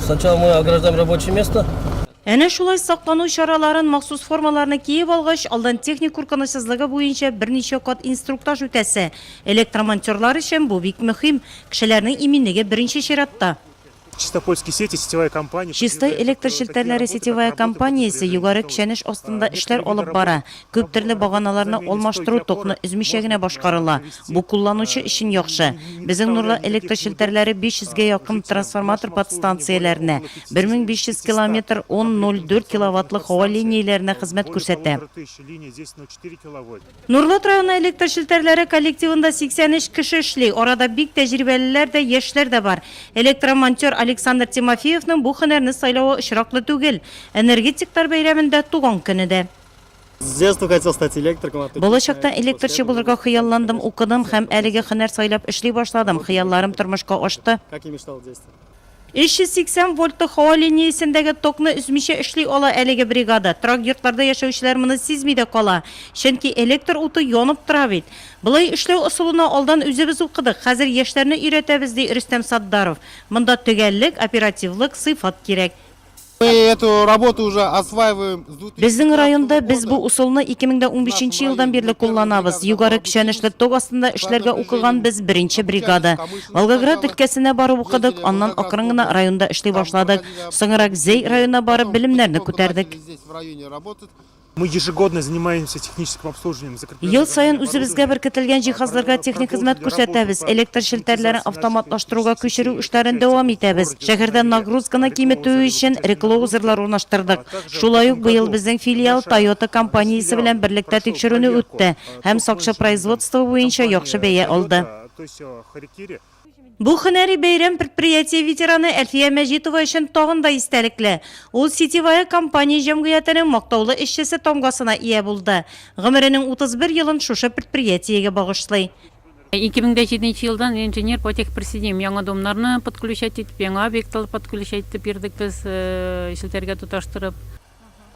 Сначала мы ограждаем рабочее место. Әнә шулай саклану чараларын, махсус формаларны киеп алгач, алдан техник куркынычсызлыгы буенча берничә кат инструктаж үтәсе. Электромонтерлар өчен бу бик мөһим. Кешеләрнең иминлеге беренче чиратта. Чистопольские сети, сетевая компания. Чистай электр челтәрләре сетевая компаниясе Югары Кчәнеш астында эшләр алып бара. Күп төрле баганаларны алмаштыру токны өзмичә генә башкарыла. Бу кулланучы өчен яхшы. Безнең Нурлат электр челтәрләре 500 гә якын трансформатор подстанцияләренә, 1500 километр он 0,4 киловаттлы һава линияләренә хезмәт күрсәтә. Нурлат районы электр челтәрләре коллективында 83 кеше эшли, арада бик тәҗрибәлеләр дә, яшьләр дә бар. Электромонтер Александр Тимофеевның бу һөнәрне сайлавы очраклы түгел. Энергетиклар бәйрәмендә, туган көне дә. Балачактан электрчы булырга хыялландым, укыдым һәм әлеге хөнәр сайлап эшли башладым. Хыялларым тормышка ашты. 380 вольтлы һава линиясендәге токны өзмичә эшли ала әлеге бригада. Торак йортларда яшәүчеләр моны сизми дә кала, чөнки электр уты янып тора бит. Болай эшләү ысулына алдан үзебез укыдык, хәзер яшьләрне өйрәтәбез, ди Рөстәм Сатдаров. Монда төгәллек, оперативлык, сыйфат кирәк. Безнең районда без бу усылны 2015 елдан бирле кулланабыз. Югары көчәнешле ток астында эшләргә укыган без беренче бригада. Волгоград өлкәсенә барып укыдык, аннан акрын гына районда эшли башладык. Соңрак Зәй районына барып белемнәрне күтәрдек. Ел саен үзебезгә беркетелгән җиһазларга техник хезмәт күрсәтәбез, электр челтәрләрен автоматлаштыруга күчерү эшләрен дәвам итәбез. Шәһәрдә нагрузканы киметү өчен реклоузерлар урнаштырдык. Шулай ук быел безнең филиал Тойота компаниясе белән берлектә тикшерүне үтте һәм сакчы производство буенча яхшы бәя алды. Бу һөнәри бәйрәм предприятие ветераны Әлфия Мәҗитова өчен тагын да истәлекле. Ул Сетевая компания җәмгыятенең мактаулы эшчесе тамгасына ия булды. Гомеренең 31 елын шушы предприятиегә багышлый. 2007 нче елдан инженер по техприсоединению. Яңа домнарны подключать итеп, яңа объектлар подключать итеп йөрдек без, челтәргә тоташтырып.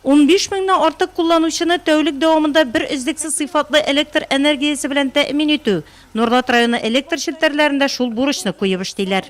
Унбиш меңнән артык кулланучыны тәүлек дәвамында бер өзлексез сыйфатлы электр энергиясе белән тәэмин итү, Норлат районы электр челтәрләрендә шул бурычны куеп эшлиләр.